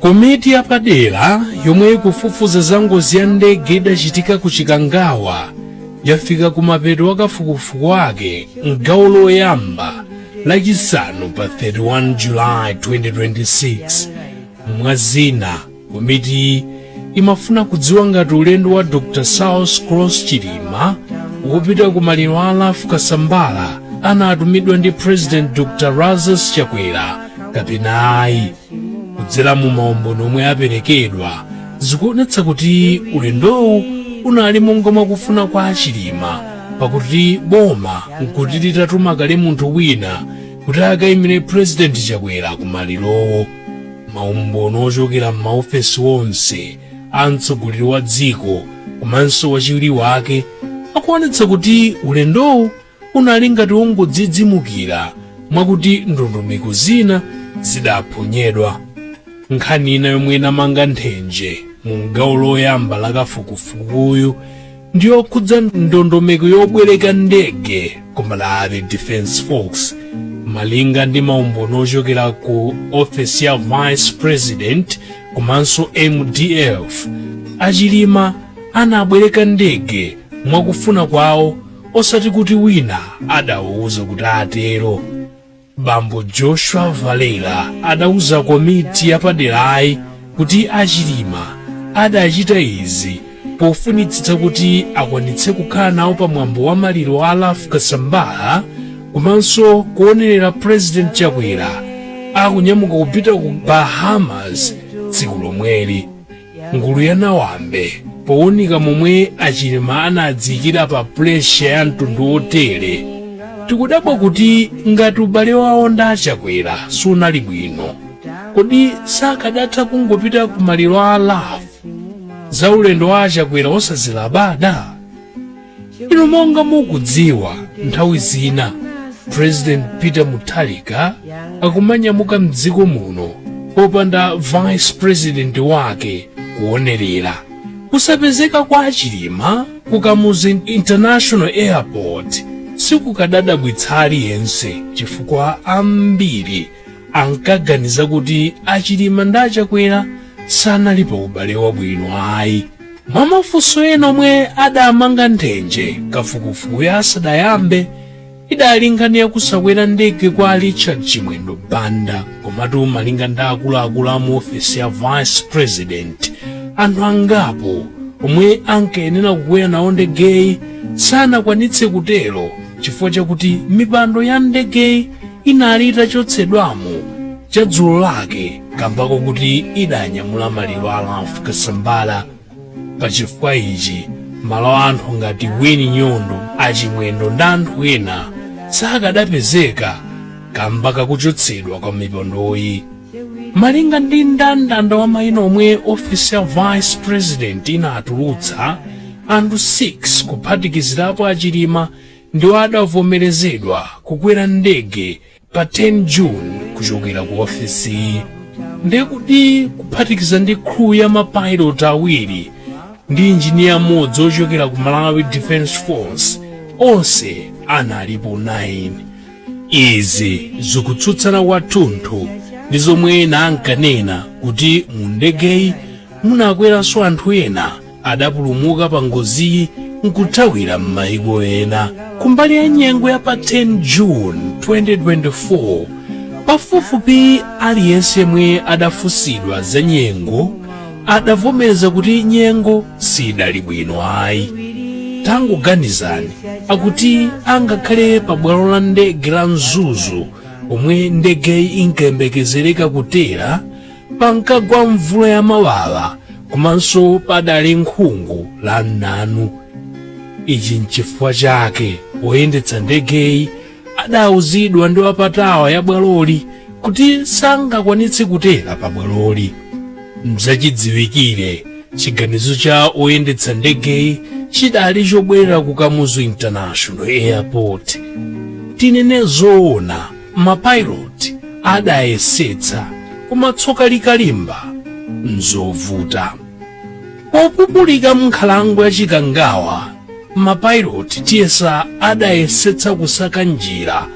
Komiti yapadera yomwe ikufufuza za ngozi ya ndege idachitika ku Chikangawa yafika kumapeto a kafukufuku wake m'gawo loyamba lachisanu pa 31 July 2026. Mwa zina, komiti imafuna kudziwa ngati ulendo wa Dr. Saulos Klaus Chilima wopita ku maliro a Ralph Kasambara anatumidwa ndi President Dr. Lazarus Chakwera kapena ayi kudzera mu maumboni omwe aperekedwa zikuonetsa kuti ulendowu unali monga mwakufuna kwa achilima pakuti boma nkuti litatuma kale munthu wina kuti akayimire purezidenti chakwera kumalirowo maumboni ochokera m'maofesi onse a mtsogoleri wa dziko komanso wachiwiri wake akuonetsa kuti ulendowu Unali ngati wongodzidzimukira mwakuti ndondomeko zina zidaphonyedwa. Nkhani ina yomwe inamanga nthenje mu gawo loyamba la kafukufukuyu ndi yokhudza ndondomeko yobwereka ndege ku Malawi Defence Force malinga ndi maumboni ochokera ku ofesi ya vice president komanso mdf achilima anabwereka ndege mwakufuna kwawo osati kuti wina adawauza kuti atero bambo joshua valera adauza komiti yapaderayi kuti achilima adachita izi pofunitsitsa kuti akwanitse kukhala nawo pa mwambo wa maliro a a ralph kasambara komanso kuonerera president chakwera akunyamuka kupita ku bahamas tsiku lomweli Ngulu ya Nawambe powunika momwe a Chilima anadziikira pa pressure ya mtundu wotere, tikudabwa kuti ngati ubale wawo ndi a Chakwera sunali bwino, kodi sakadatha kungopita ku maliro a Ralph za ulendo wa a Chakwera osazilabada? pano monga mukudziwa nthawi zina president peter mutharika akumanyamuka mdziko muno popanda vice president wake kuonerera kusapezeka kwa achilima ku kamuzu international airport sikukadadabwitsa aliyense chifukwa ambiri ankaganiza kuti achilima ndi achakwera sanali pa ubale wabwino ayi mwa mafunso ena omwe adamanga nthenje kafukufukuyu asadayambe idali nkhani yakusakwera ndege kwa richard chimwendo banda komatu malinga ndi akuluakulu a mu ofesi ya vice president anthu angapo omwe ankayenera kukwera nawo ndegeyi sanakwanitse kutero chifukwa chakuti mipando ya ndegeyi inali itachotsedwamo chadzulo lake kamba kokuti idanyamula maliro a Ralph Kasambara pa chifukwa ichi malo a anthu ngati Winnie Nyondo a Chimwendo ndi anthu ena sakadapezeka kamba kakuchotsedwa kwa mipandoyi malinga ndi mndandanda wa mayina omwe ofisi ya vice president inatulutsa anthu 6 kuphatikizirapo a Chilima ndiwo adavomerezedwa kukwera ndege pa 10 june kuchokera ku ofisiyi ndekuti kuphatikiza ndi crew ya mapilot awiri ndi injiniya mmodzi ochokera ku malawi defense force onse analipo 9 izi zikutsutsana kwathunthu ndi zomwe ena ankanena kuti mu ndegeyi munakweranso anthu ena adapulumuka pa ngoziyi nkuthawira m'mayiko ena kumbali ya nyengo ya pa 10 june 2024 pafupifupi aliyense yemwe adafunsidwa za nyengo adavomereza kuti nyengo sidali bwino ayi tangoganizani akuti angakhale pa bwalo la ndege la mzuzu pomwe ndegeyi inkayembekezereka kutera pankagwa mvula ya mawawa komanso padali nkhungu la mnanu ichi nchifukwa chake oyendetsa ndegeyi adauzidwa ndi wa pa tower ya bwaloli kuti sangakwanitse kutera pa bwaloli mzachidziwikire chiganizo cha oyendetsa ndegeyi chidali chobwerera ku kamuzu international airport tinene zoona mapilot adayesetsa koma tsoka likalimba nzovuta Popupuluka m'nkhalango ya Chikangawa, mapilot tiyesa adayesetsa kusaka njira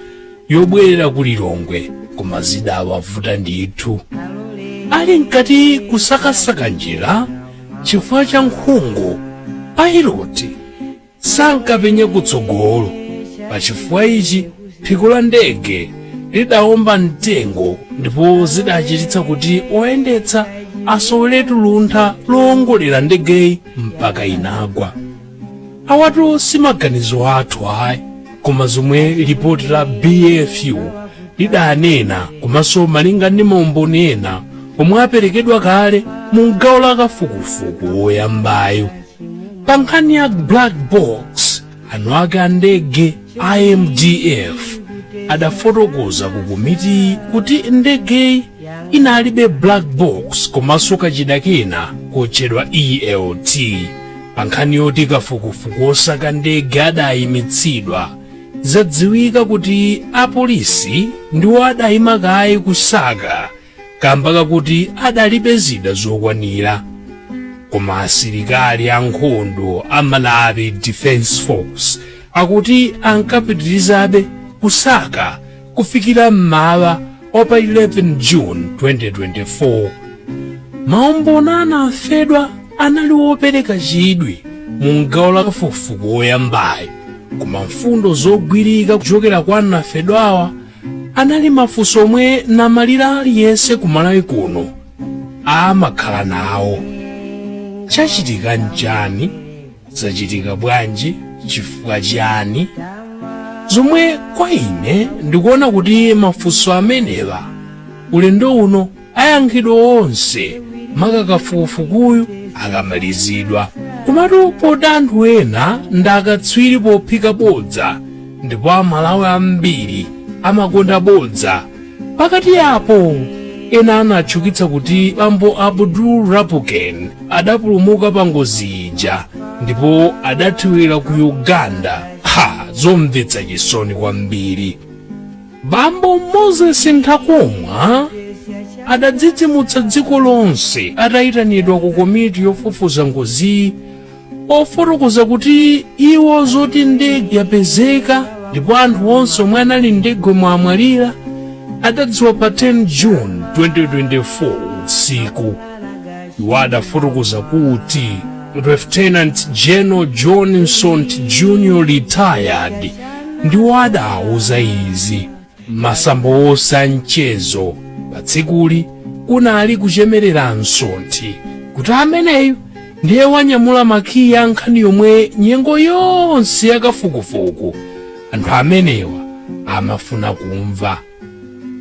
yobwerera ku Lilongwe koma zidawavuta ndithu. Ali mkati kusakasaka njira chifukwa cha nkhungu, pilot sankapenya kutsogolo. Pachifukwa ichi, phiko la ndege lidaomba mtengo ndipo zidachititsa kuti oyendetsa asoweretu luntha loongolera ndegeyi mpaka inagwa. Awatu si maganizo athu ayi, koma zomwe lipoti la BFU lidanena komanso malinga ndi maumboni ena omwe aperekedwa kale mu gawo la kafukufuku woyambayo. pa nkhani ya black box eni ake a ndege a mdf adafotokoza ku komiti kuti ndegeyi inalibe black box komanso kachida kena kotchedwa elt pa nkhani yoti kafukufuku osaka ndege adayimitsidwa zadziwika kuti apolisi ndiwo adayima kaye kusaka kamba kakuti adalibe zida zokwanira koma asilikali ankhondo a malawi defense force akuti ankapitirizabe kusaka kufikira mmawa wa pa 11 june 2024 maumboni anafedwa anali wopereka chidwi mu gawo la kafukufuku woyambayo koma mfundo zogwirika kuchokera kwa anafedwawa anali mafunso omwe namalira aliyense ku malawi kuno amakhala nawo chachitika nchani zachitika bwanji chifukwa chiyani zomwe kwa ine ndikuona kuti mafunso amenewa ulendo uno ayankhidwa onse maka kafukufukuyu akamalizidwa komatu poti anthu ena ndi akatswiri pophika bodza ndipo amalawi ambiri amakonda bodza pakati apo ena anatchukitsa kuti bambo abdul lapukeni adapulumuka pa ngozi ija ndipo adathawira ku uganda ha zomvetsa chisoni kwambiri bambo moses nthakomwa adadzidzimutsa dziko lonse atayitanidwa ku komiti yofufuza ngoziyi pofotokoza kuti iwo zoti ndege yapezeka ndipo anthu onse omwe anali mundegemo amwalira adadziwa pa 10 june 2024 usiku iwo adafotokoza kuti Lieutenant General John Msonthi Jr. retired ndiwo adawauza izi masamba onse a mchezo pa tsikuli kunali kuchemerera Msonthi kuti ameneyu ndiye wanyamula makiyi a nkhani yomwe nyengo yonse yakafukufuku anthu amenewa amafuna kumva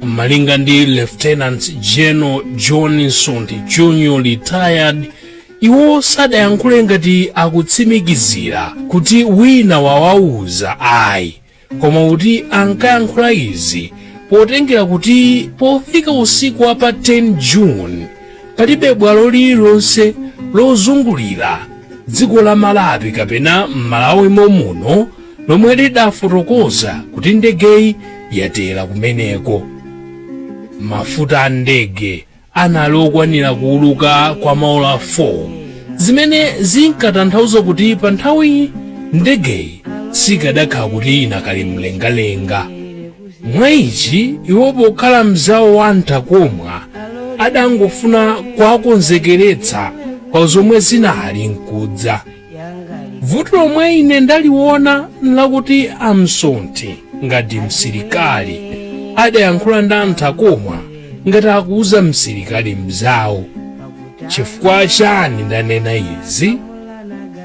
malinga ndi lieutenant general john msonthi junior retired iwo sadayankhule ngati akutsimikizira kuti wina wawauza ayi koma kuti ankayankhula izi potengera kuti pofika usiku wa pa 10 june palibe bwalo lililonse lozungulira dziko la malawi kapena m'malawi momuno lomwe lidafotokoza kuti ndegeyi yatera kumeneko mafuta a ndege anali okwanira kuuluka kwa maola 4 zimene zinkatanthauza kuti pa nthawiyi ndegeyi sikadakhala kuti inakali mlengalenga mwa ichi iwo pokhala mzawo wa a Nthakomwa adangofuna kuwakonzekeretsa pa zomwe zinali nkudza Vuto lomwe ine ndaliwona nlakuti a Msonthi ngati msilikali adayankhula ndi a Nthakomwa ngati akuuza msilikali mnzawo. Chifukwa chani ndanena izi?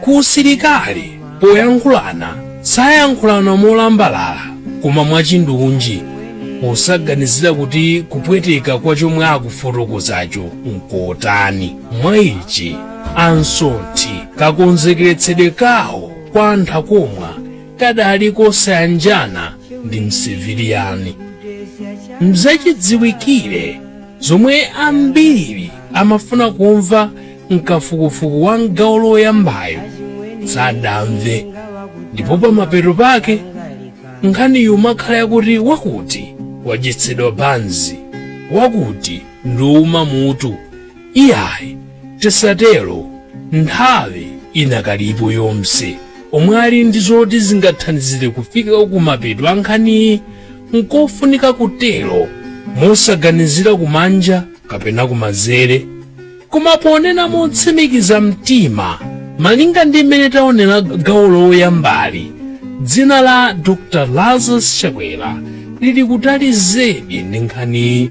Ku usilikali poyankhulana sayankhulana molambalala koma mwachindunji posaganizira kuti kupweteka kwa chomwe akufotokozacho nkotani. Mwa ichi a Msonthi kakonzekeretsedwe kawo kwa a Nthakomwa kadali kosayanjana ndi msiviliyani mzachidziwikire zomwe ambiri amafuna kumva mkafukufuku wa mgawo loyambayo sadamve ndipo pamapeto pake nkhani imakhala yakuti wakuti wadyetsedwa banzi wakuti ndi wouma mutu Iyayi tisatelo nthawi inakalipo onse omwe ali ndi zoti zingathandizile kufika kumapeto a nkhaniyi nkofunika kutelo mosaganizila kumanja kapena kumanzele koma ponena motsimikiza mtima malinga ndi mmene taonela gawo loyambali dzina la dr lazarus chakwera lili kutali zedi ndi nkhaniyi